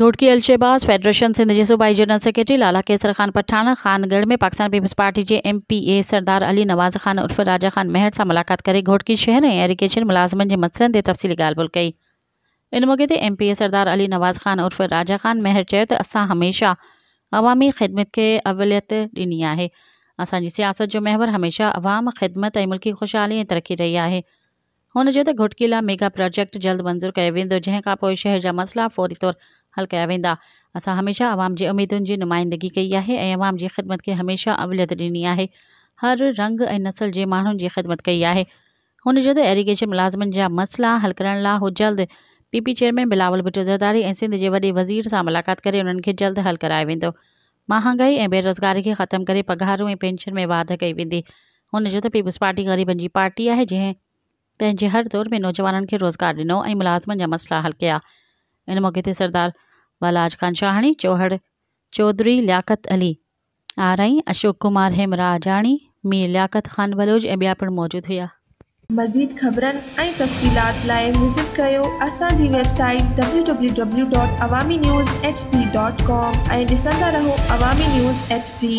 Ghotki Al Shahbaz federation Sindh جي صوبائي general secretary Lala Kaisar Khan Pathan Khangarh ۾ Pakistan peoples party جي M P A Sardar Ali Nawaz Khan عرف راجا خان مهڙ سان ملاقات ڪري گهوٽڪي شهر ۽ ايريگيشن ملازمن جي مسئلن تي تفصيلي ڳالهه ٻولهه ڪئي. ان موقعي تي M P A Sardar Ali Nawaz Khan عرف راجا خان مهر چيو ته اسان هميشه عوامي خدمت کي اوليت ڏني آهي، اسان جي سياست جو محور هميشه عوام، خدمت ۽ ملڪي خوشحالي ۽ ترقي رهي آهي. هن چيو ته گهوٽڪي لاء ميگا پراجيڪٽ جلد منظور ڪيو ويندو جنهن کانپوء شهر جا مسئلا فوري طور حل ڪيا ويندا، اسان هميشه عوام جي اميدن جي نمائندگي ڪئي آهي ۽ عوام جي خدمت کي هميشه اوليت ڏني آهي، هر رنگ ۽ نسل جي ماڻهن جي خدمت ڪئي آهي. هن چيو ته ايريگيشن ملازمن جا مسئلا حل ڪرڻ لاء هو جلد P P chairman Bilawal Bhutto Zardari ۽ Sindh جي وڏي وزير سان ملاقات ڪري انهن کي جلد حل ڪرايو ويندو، مهانگائي ۽ بيروزگاري کي ختم ڪري پگهارون ۽ پينشن ۾ واڌ ڪئي ويندي. هن چيو ته پيپلزپارٽي غريبن جي پارٽي آهي جنهن پنهنجي هر دور ۾ نوجوانن کي روزگار ڏنو ۽ ملازمن جا مسئلا حل ڪيا. ان موقعي تي سردار والاعاج خان شاهاڻي، چوهڙ چوڌري لياقت علي، آرائين، اشوڪ ڪمار هيمراجاڻي، مير لياقت خان بلوچ ۽ ٻيا پڻ موجود هيا. مزيد خبرن ۽ تفصيلات لاء وزٽ ڪريو اسان جي website W W W dot Awami news H D dot com ۽ ڏسندا رهو عوامي نيوز ايڇ ڊي.